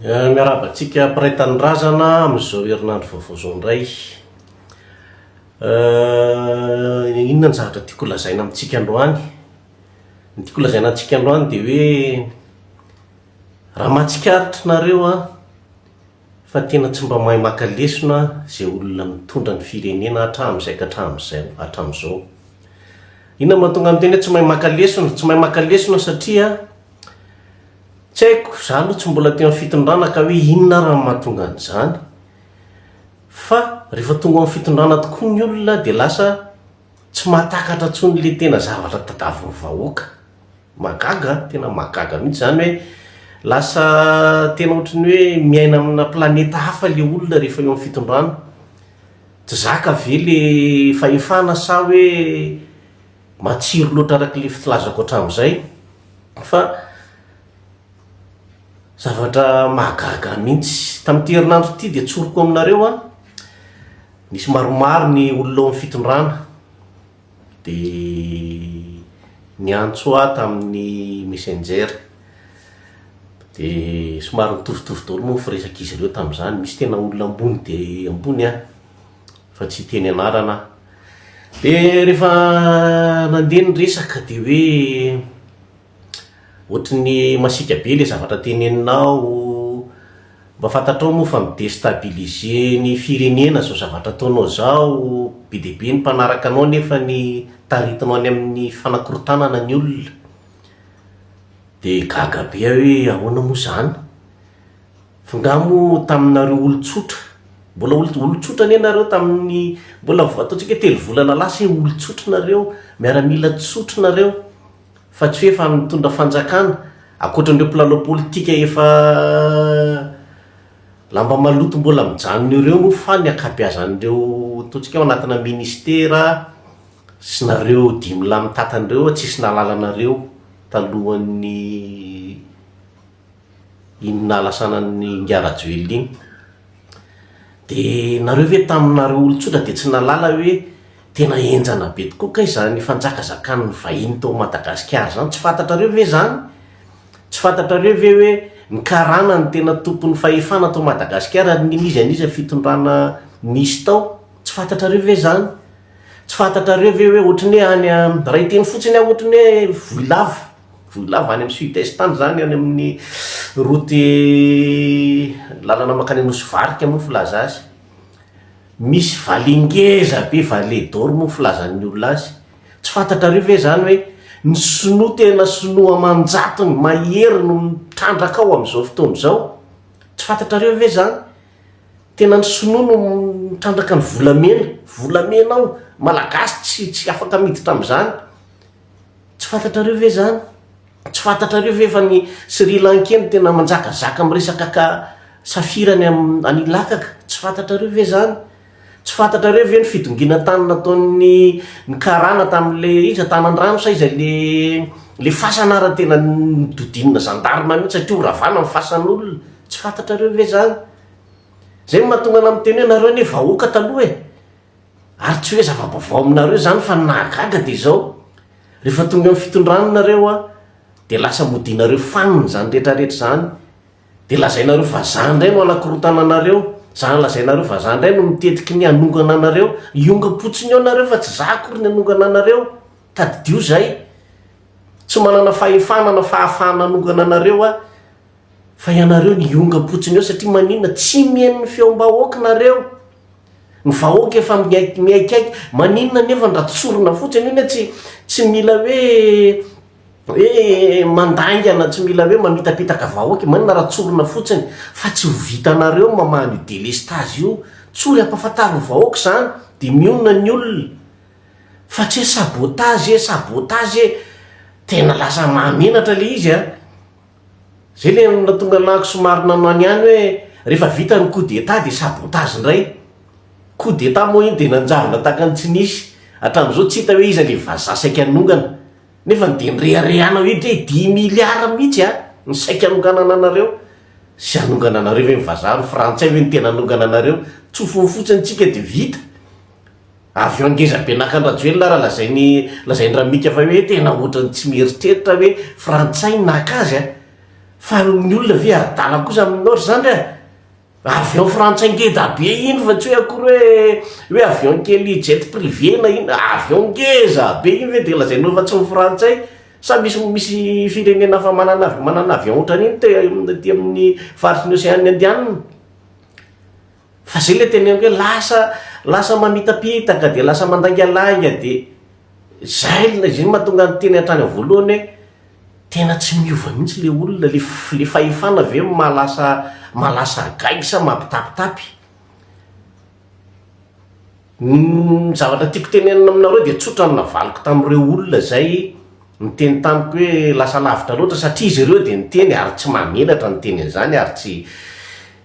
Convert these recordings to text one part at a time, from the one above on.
Miarahaba antsika mpiray tanindrazana amin'izao herinandro vaovao izao indray. Inona ny zavatra tiako holazaina amintsika androany? Ny tiako holazaina antsika androany dia hoe raha mahatsikaritra nareo an, fa tena tsy mba mahay maka lesona izay olona mitondra ny firenena hatramin'izay ka hatramin'izay, hatramin'izao. Inona no mahatonga ny teny hoe tsy mahay maka lesona? Tsy mahay maka lesona satria Tsy haiko, izaho aloha tsy mbola teo amin'ny fitondrana ka hoe inona ary no mahatonga an'izany. Fa rehefa tonga ao amin'ny fitondrana tokoa ny olona dia lasa tsy mahatakatra intsony ilay tena zavatra tadiavin'ny vahoaka. Mahagaga an, tena mahagaga mihintsy izany hoe lasa tena ohatran'ny hoe miaina amina planeta hafa ilay olona rehefa eo amin'ny fitondrana. Tsy zaka ve ilay fahefana sa hoe. Matsiro loatra araka ilay filazako hatramin'izay fa zavatra mahagaga ahy mihitsy. Tamin'ity herinandro ity dia tsoriko aminareo an, nisy maromaro ny olona ao amin'ny fitondrana dia niantso ahy tamin'ny messenger, dia somary nitovitovy daholo moa ny firesak'izy ireo tamin'izany, misy tena olona ambony dia ambony an. fa tsy hiteny anarana aho. Dia rehefa nandeha ny resaka dia hoe ohatry ny masiaka be ilay zavatra teneninao, mba fantatrao moa fa mi-destabiliser ny firenena izao zavatra ataonao izao, be dia be ny mpanaraka anao nefa ny taritinao any amin'ny fanakorontanana ny olona. Dia gaga be aho hoe ahoana moa izany? Nga moa taminareo olon-tsotra, mbola olon-tsotra anie nareo tamin'ny, mbola ataontsika hoe telo volana lasa hoe olon-tsotra nareo, miaramila tsotra nareo, fa tsy hoe efa mitondra fanjakana, ankoatran'ireo mpilalao politika efa lamba maloto mbola mijanona ireo moa fa ny ankabeazan'ireo ataontsika hoe ao anatina ministera sy nareo dimy lahy mitantana ireo tsisy nahalala anareo talohan'ny iny nahalasana an'i Ingahy Rajoelina iny dia nareo ve taminareo olon-tsotra dia tsy nahalala hoe tena henjana be tokoa kay izany fanjakazakan'ny vahiny tao Madagasikara izany, tsy fantatrareo ve izany? Tsy fantatrareo ve hoe ny karana no tena tompon'ny fahefana tao Madagasikara ary n'iza n'iza fitondrana nisy tao? Tsy fantatrareo ve izany? Tsy fantatrareo ve hoe ohatry ny hoe any raha hiteny fotsiny aho ohatry ny hoe voy lava? Vohilava any amin'ny sud est any izany, any amin'ny route lalana mankany Nosy varika moa filaza azy. Misy vallée ngeza be, vallée d'or moa ny filazan'ny olona azy. Tsy fantatrareo ve izany hoe ny sinoa tena sinoa aman-jatony, mahery no mitrandraka ao amin'izao fotoana izao? Tsy fantatrareo ve izany? Tena ny sinoa no mitrandraka ny volamena, volamena ao, malagasy tsy tsy afaka miditra amin'izany. Tsy fantatrareo ve izany? Tsy fantatrareo ve fa ny Sri Lankey no tena manjakazaka amin'ny resaka ka safira any amin'ny any Ilakaka? Tsy fantatrareo ve izany? Tsy fantatrareo ve ny fidongina tany nataon'ny ny karana tamin'ilay iza Tanandrano sa iza le le fasana ary tena nodidinina zandarma mihitsy satria horavana ny fasan'olona? Tsy fantatrareo ve izany? Izay no mahatonga anà miteny hoe nareo anie vahoaka taloha e! Ary tsy hoe zava-baovao aminareo izany fa ny nahagaga dia izao, rehefa tonga amin'ny fitondrana nareo an, dia lasa modianareo fanina izany rehetrarehetra izany, dia lazainareo fa izaho indray no hanakorontana anareo, izany lazainareo fa izaho indray no mitetiky ny hanongana anareo, hiongam-potsiny eo nareo fa tsy izaho akory ny hanongana anareo, tadidio izay, tsy manana fahefana na fahafahana hanongana anareo aho, fa ianareo no hiongam-potsiny eo satria maninona, tsy mihaino ny feom-bahoaka nareo. Ny vahoaka efa miaiky miaikaiky, maninona anefa ndra tsorina fotsiny io ne tsy tsy mila hoe hoe mandaingana tsy mila hoe mamitapitaka vahoaka e, maninona raha tsorina fotsiny fa tsy ho vitanareo ny mamaha an'io delestazy io tsory ampafantaro ny vahoaka zany de mionona ny olona fa tsy hoe sabotazy e sabotazy e, tena lasa mahamenatra le izy a. Zay le natonga anahako somary nanao ny any hoe rehefa vita ny coup d'etat dia sabotage indray. Coup d'etat moa iny dia nanjavona tahaka ny tsy nisy, hatramin'izao tsy hita hoe iza le vazaha saika hanongana. Nefany dia nireharehanao eto hoe dimy milliards mihitsy an ny saika hanonganana anareo. Zay hanongana anareo ve ny vazaha, ny frantsay ve no tena hanongana anareo? Tsofiny fotsiny tsika dia vita. Avy eo ngeza be naka an-dRajoelina ary lazainy lazain-dRamika fa hoe tena ohatran'ny tsy mieritreritra hoe frantsay naka azy a! Fa ny olona ve adala kosa aminao ry zandry a! Avion frantsay ngeda be iny fa tsy hoe akory hoe hoe avion kely jet privé na inona, avion ngeza be iny ve dia lazainao fa tsy ny frantsay? Sa misy misy firenena hafa manana manana avion ohatran'iny te aty amin'ny faritry ny Ocean Indianina? Fa zay le teneniko hoe lasa lasa mamitapitaka dia lasa mandaingalainga dia zay le zay mahatonga ny teny hatrany amin'ny voalohany hoe tena tsy miova mihitsy le olona le le fahefana ve no maha lasa maha lasa gaigy sa mampitapitapy. Ny zavatra tiako tenenina aminareo dia tsotra ny navaliko tamin'ireo olona izay niteny tamiko hoe lasa lavitra loatra satria izy ireo dia niteny ary tsy mahamenatra ny teny an'izany ary tsy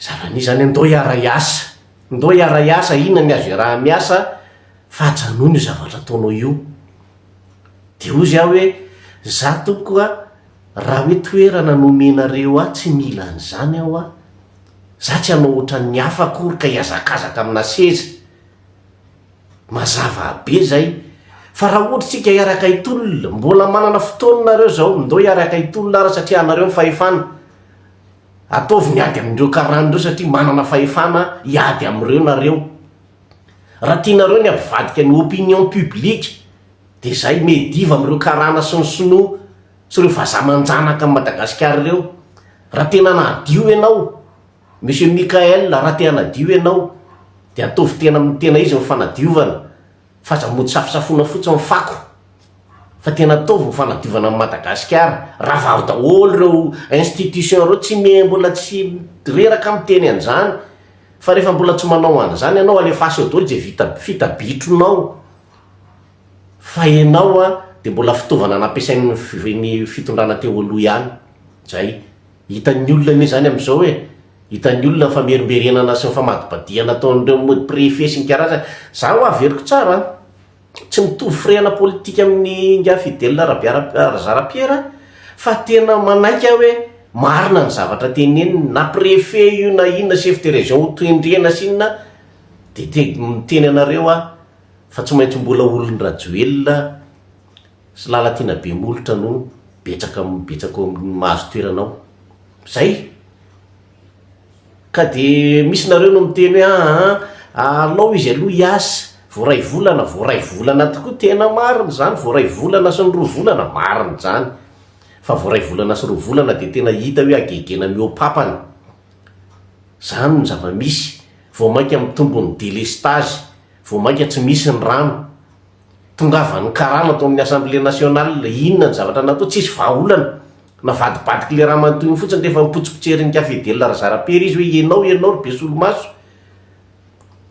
zava-misy izany ndao hiara-hiasa ndao hiara-hiasa inona ny azo iaraha-miasa fa ajanony io zavatra ataonao io dia hoy aho hoe za tompoko a raha hoe toerana no omenareo ahy tsy mila an'izany aho a Za tsy hanao otran'ny hafa akory ka hiazakazaka amina seza. Mazava be zay. Fa raha ohatra tsika hiaraka hitolona, mbola manana fotoana nareo zao, ndao hiaraka hitolona ara satria anareo ny fahefana. Ataovy ny ady amindreo karana ireo satria manana fahefana hiady amreo nareo. Raha tianareo ny hampivadika ny opinion publique de zay, mihediva amreo karana sy ny sinoa. sy ireo vazaha aman-janaka an'i Madagasikara ireo, raha tena anadio ianao, Monsieur Mickaël raha te hanadio ianao dia ataovy tena amin'ny tena izy ny fanadiovana fa aza mody safosafoina fotsiny ny fako fa tena ataovy ny fanadiovana an'i Madagasikara, ravaro daholo ireo institutions ireo, tsy me, mbola tsy reraka miteny an'izany fa rehefa mbola tsy manao an'izany ianao alefaso eo daholo izay vita, fita bitronao. fa ianao a dia mbola fitaovana nampiasain'ny ny fitondrana teo aloha ihany izay, hitan'ny olona anie izany amin'izao e, hitan'ny olona ny famerimberenana sy ny famadibadihana ataon'ireo mody préfet sy ny karazany, za ho averiko tsara an, tsy mitovy firehana politika amin'ny ingahy Fidèle Rabiara Razara Pierre fa tena manaiky aho hoe marina ny zavatra teneniny, na préfet io na inona chef de région ho tendrena sy inona dia te miteny anareo aho fa tsy maintsy mbola olon'i Rajoelina sy Lalatiana be molotra no betsaka betsaka ao amin'ny mahazo toerana ao. Izay! Ka dia misy nareo no miteny hoe aa alao izy aloha hiasa, voaray volana, voaray volana tokoa, tena marina izany, voaray volana sy ny roa volana, marina izany, fa voaray volana sy roa volana dia tena hita hoe hagegena mihoa-papana. Izany no zava-misy, vao mainka mitombo ny délestage, Vao mainka tsy misy ny rano. Tongavan'ny karama tao amin'ny Assemblée nationale. Inona ny zavatra natao? Tsisy vahaolana. Navadibadiky ilay ramatoa iny fotsiny rehefa nipotsipotserin'i Cafedel Razarapiera izy hoe ianao, ianao ry be solomaso.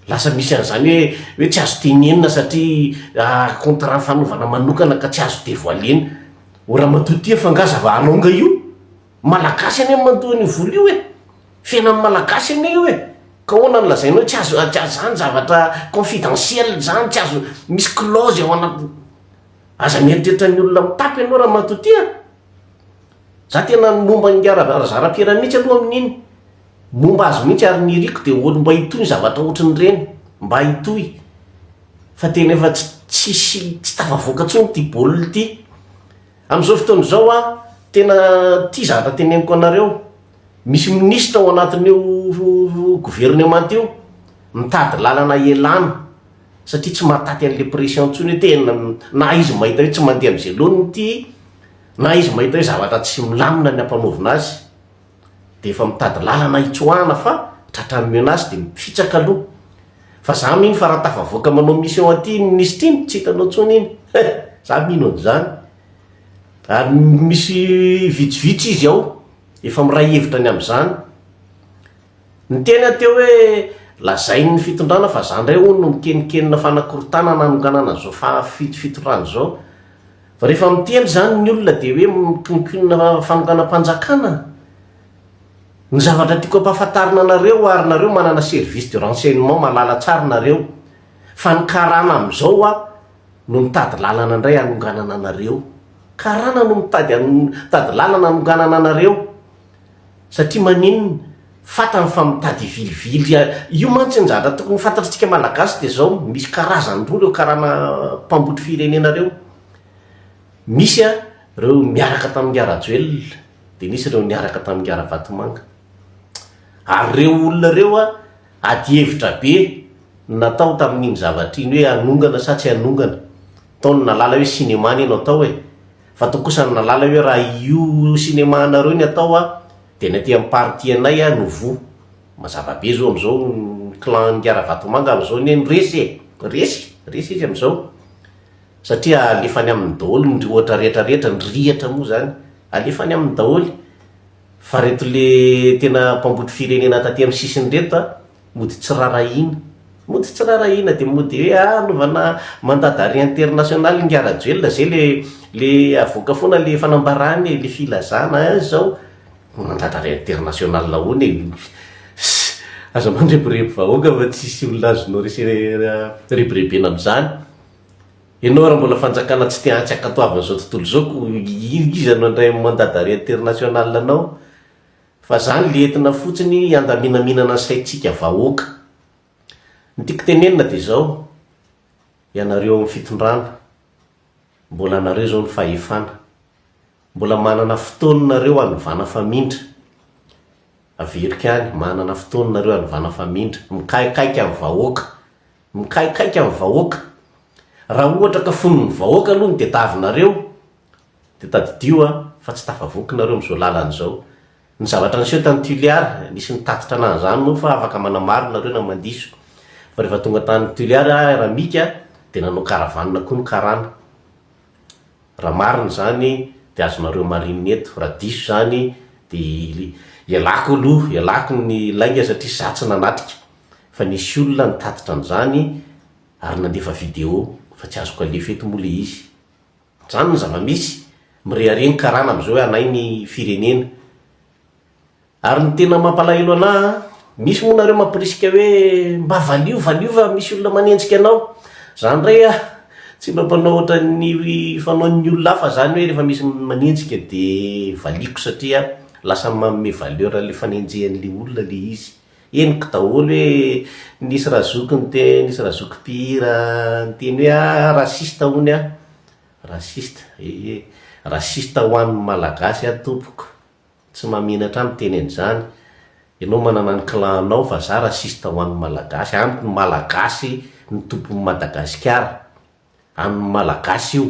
Lasa misy an'izany hoe, hoe tsy azo tenenina satria contrat fanaovana manokana ka tsy azo devoiler-na. O Ramatoa Tia fa nga zava-halaonga io? Malagasy anie ny mandoa an'io vola io e! Fiainan'ny Malagasy anie io e! Ka ahoana no lazainao hoe tsy azo tsy azo zany zavatra confidentiel zany tsy azo misy clause ao anaty aza mieritreritra ny olona mitapy ianao ramatoa ty a! Za tena ny momba ny Ra Razarapiera mihitsy aloha amin'iny momba azy mihitsy ary ny iriko dia ohatry mba hitohy ny zavatra ohatry ny ireny mba hitohy fa tena efa tsy tsisy tsy tafavoaka intsony ity baolina ity. Amin'izao fotoana izao aho tena tia zavatra teneniko anareo, misy minisitra ao anatin'io gouvernement io mitady lalana hialana satria tsy mahataty an'ilay pression intsony hoe tena na izy mahita hoe tsy mandeha amin'izay laoniny ity na izy mahita hoe zavatra tsy milamina ny hampanaovina azy. dia efa mitady lalana hitsoahana fa tratran'ny menace dia mifitsaka aloha fa za mino fa raha tafavoaka manao mission aty iny minisitra iny tsy hitanao intsony iny he! za mino an'izany ary misy vitsivitsy izy ao efa miray hevitra ny amin'izany niteny aho teo hoe lazain'ny fitondrana fa za indray hono no mikenikenina fanakorontanana hanonganana an'izao faha fito fitondrana izao Fa rehefa miteny izany ny olona dia hoe mikonkonona fanonganam-panjakana? Ny zavatra tiako ampahafantarina anareo ary nareo manana service de renseignement mahalala tsara nareo fa ny karana amin'izao a no mitady lalana indray hanonganana anareo. Karana no mitady mitady lalana hanonganana anareo. satria maninn fatany fa mitady vilivily a, io mantsy ny zavatra tokony ho fantatr'tsika malagasy dia zao, misy karazany roa reo karana mpambotry firenena reo, misy a reo niaraka tamin'ingahy rajoelina dia nisy reo niaraka tamin'ingahy ravatomanga, ary reo olona reo a ady hevitra be no natao tamin'iny zavatra iny hoe hanongana sa tsy hanongana, tao no nalala hoe cinéma anie no atao e, Fa toa kosa ry Nalala hoe raha io cinéma anareo ny atao a dia ny aty amin'ny partie anay a no voa. Mazava be zao amin'izao ny clan an'i Ngaravatomanga amin'izao anie no resy e! Resy! Resy izy amin'izao. Satria alefany aminy daholo ny ohatra rehetra rehetra, ny rihatra moa izany alefany aminy daholo. Fa ireto le tena mpambotry firenena taty amin'ny sisiny ireto a! Mody tsy rarahiana. Mody tsy rarahiana dia mody hoe ah anaovana mandat d'arret international ingahy Rajoelina izay ilay ilay avoaka foana ilay fanambarany e, ilay filazana ah izao mandat d'arret international ahoana e? Aza mandrebireby vahoaka fa tsisy olona azonao rebirebena amin'izany. Ianao raha mbola fanjakana tsy te-hantsy hankatoavin'izao tontolo izao koa iza no handray mandat d'arret international anao? Fa zany le entina fotsiny handaminaminana saintsika vahoaka. Ny tiako tenenina de zao, ianareo ao amin'ny fitondrana, mbola anareo zao ny fahefana, mbola manana fotoana nareo hanovana famindra, averiko ihany, manana fotoana nareo hanovana famindra, mikaikaika amin'ny vahoaka, mikaikaika amin'ny vahoaka, raha ohatra ka fonon' ny vahoaka aloha no tetavinareo, Dia tadidio aho fa tsy tafavoky nareo amin'izao lalana izao. Ny zavatra niseho tany Tuliar, nisy nitatitra anahy izany moa fa afaka manamaro nareo na mandiso. Fa rehefa tonga tany Tuliar aho ra Mika dia nanao caravane koa ny karana. Raha marina izany dia azonareo marine eto, raha diso izany dia ialako aloha, ialako ny lainga satria izaho tsy nanatrika. Fa nisy olona nitatitra an'izany ary nandefa video fa tsy azoko alefa eto moa ilay izy. Zany ny zava-misy. Mirehareha ny karana amizao hoe anay ny firenena. Ary ny tena mampalahelo anah an, misy moa nareo mampirisika hoe mba valio valio fa misy olona manenjika anao. Za ndray an, tsy mba mpanao ohatran'ny fanaon'ny olona hafa zany hoe rehefa misy manenjika dia valiako satria lasa manome valeur an'le fanenjehan'le olona le izy. Henoko daholo hoe nisy razoky niteny, nisy razoky mpihira niteny hoe ah raciste hono ah. Raciste, ee, raciste ho an'ny Malagasy aho tompoko, tsy mahamenatra ahy miteny an'izany, ianao manana ny clan anao fa za raciste ho an'ny Malagasy, amiko ny Malagasy no tompon'i Madagasikara, an'ny Malagasy io,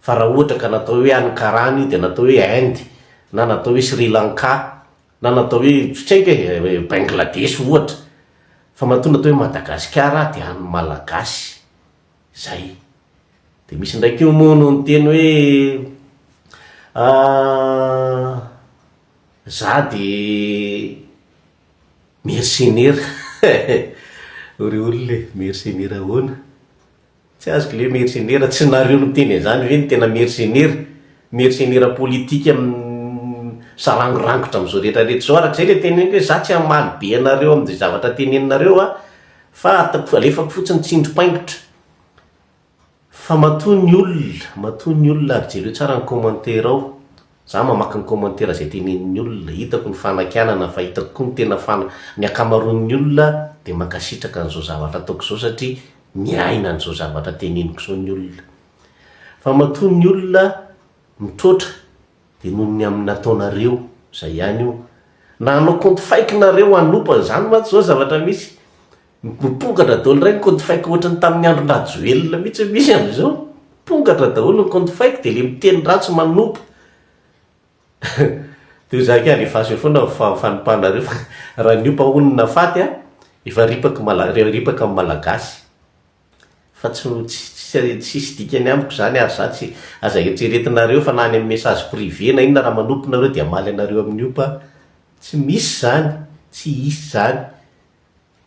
fa raha ohatra ka natao hoe any Karana io dia natao hoe Inde, na natao hoe Sri Lanka, Na natao hoe tsotrainga hoe Bangladesh ohatra, fa matoa natao hoe Madagasikara dia an'ny Malagasy izay. Dia misy indray koa moa no niteny hoe za dia mercenaire. Hoy ry olona e, mercenaire ahoana? Tsy azoko le mercenaire, tsy nareo niteny an'izany ve ny tena mercenaire? Mercenaire politika misarangorangotra amin'izao rehetra rehetra izao, arak'izay le teneniko hoe za tsy hamaly be anareo amin'izay zavatra teneninareo a, fa alefako fotsiny tsindrim-paingotra, fa matoa ny olona, matoa ny olona ary jereo tsara ny commentaire ao. Za mamaky ny commentaire izay tenenin'ny olona, hitako ny fanakianana fa hitako koa ny tena fana, ny ankamaroan'ny olona dia mankasitraka an'izao zavatra ataoko izao satria miaina an'izao zavatra teneniko izao ny olona. Fa matoa ny olona mitroatra dia noho ny amin'ny nataonareo, izay ihany io. Na hanao compte fake nareo hanopa, izany mantsy izao zavatra misy. Mipongatra daholo indray ny compte fake ohatran'ny tamin'ny andron-dRajoelina mihitsy hoe misy amin'izao. Mipongatra daholo ny compte fake dia ilay miteny ratsy manopa. Dia hoy zaka alefaso eo foana ny fanompanareo fa raha niopa honina faty a, efa ripaky malagasy, ripaka amin'ny malagasy. Fa tsy tsy tsisy dikany amiko izany ary za tsy, aza eritreretinareo fa na any amin'ny message privé na inona raha manopa nareo dia hamaly anareo amin'ny opa, tsy misy izany, tsy hisy izany.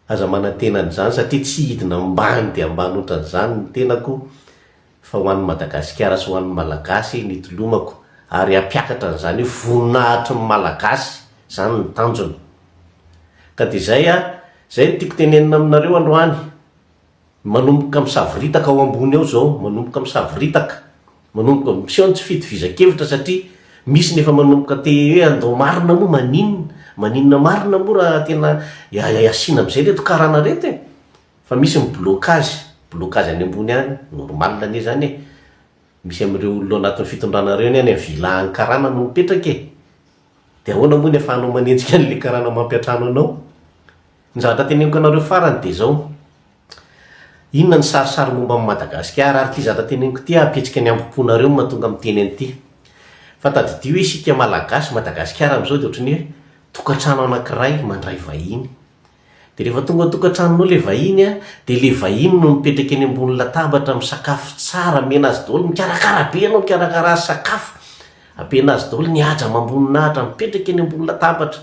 Aza manantena an'izany satria tsy hidina ambany dia ambany otran'izany ny tenako fa ho an'ny Madagasikara sy ho an'ny Malagasy nitolomako ary hampiakatra an'izany io voninahitry ny Malagasy izany ny tanjona ka dia izay a, izay no tiako tenenina aminareo androany. Manomboka misavoritaka ao ambony ao izao, manomboka misavoritaka, manomboka miseho ny tsy fitovizankevitra satria misy ny efa manomboka te hoe andao marina moa maninona, maninona marina moa raha tena asiana amin'izay ireto karana ireto e! Fa misy ny blocage, blocage any ambony any, normal anie izany e! Misy amin'ireo olona ao anatin'ny fitondrana ireo anie any amin'ny villa any karana no mipetraka e! Dia ahoana moa ny ahafahanao manenjika an'ilay karana mampiantrano anao? Ny zavatra teneniko anareo farany dia izao, inona ny sarisary momba an'i Madagasikara ary ity zavatra teneniko ity hampihetsika ny hambom-ponareo no mahatonga miteny an'ity. Fa tadidio isika Malagasy, Madagasikara amin'izao dia ohatran'ny hoe tokantrano anankiray mandray vahiny. Dia rehefa tonga ao an-tokantranonao ilay vahiny an, dia ilay vahiny no mipetraka eny ambony latabatra misakafo tsara, amena azy daholo, mikarakara be ianao, mikarakara azy sakafo, ampiana azy daholo ny haja amam-boninahitra, mipetraka eny ambony latabatra.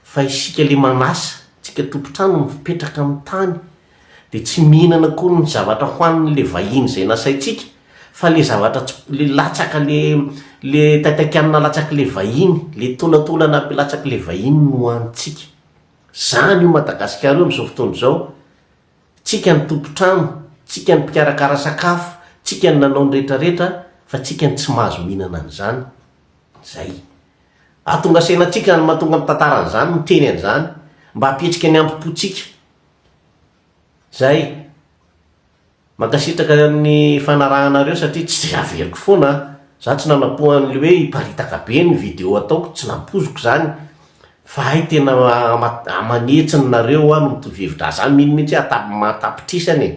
fa isika le manasa, tsika tompontrano mipetraka amin'ny tany dia tsy mihinana akory ny zavatra hohaniny le vahiny zay nasaintsika fa le zavatra tsy, le latsaka le le taitakianina latsaka le vahiny, le tolantolana latsaka le vahiny no hohanintsika, zany io Madagasikara io amin'izao fotoana izao, tsika ny tompontrano, tsika ny mpikarakara sakafo, tsika ny nanao ny retraretra fa tsika no tsy mahazo mihinana an'izany, zay. Ahatonga saina antsika izany mahatonga mitantara an'izany, miteny an'izany, mba hampietsika ny ambo-pontsika. Izay. Mankasitraka ny fanarahanareo satria tsy dia averiko foana an! Za tsy nanampo an'ilay hoe hiparitaka be ny video ataoko, tsy nampoiziko izany, fa hay tena aman'hetsiny nareo aho no mitovy hevitra, za mino mihintsy hoe mahatapitrisany e!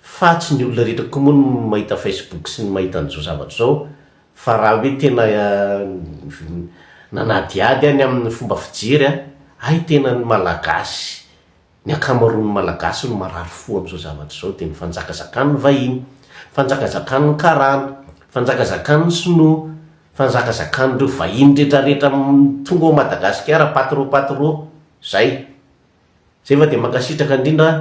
fa tsy ny olona rehetra koa moa no mahita Facebook sy ny mahita an'izao zavatra izao fa raha hoe tena nanadihady aho ny amin'ny fomba fijery an, hay tena ny Malagasy, ny ankamaroan'ny Malagasy no marary fo amin'izao zavatra izao dia ny fanjakazakan'ny vahiny, fanjakazakan'ny karana, fanjakazakan'ny sinoa, fanjakazakan'ireo vahiny retraretra tonga ao Madagasikara, pas trop pas trop, izay. Izay fa dia mankasitraka indrindra an.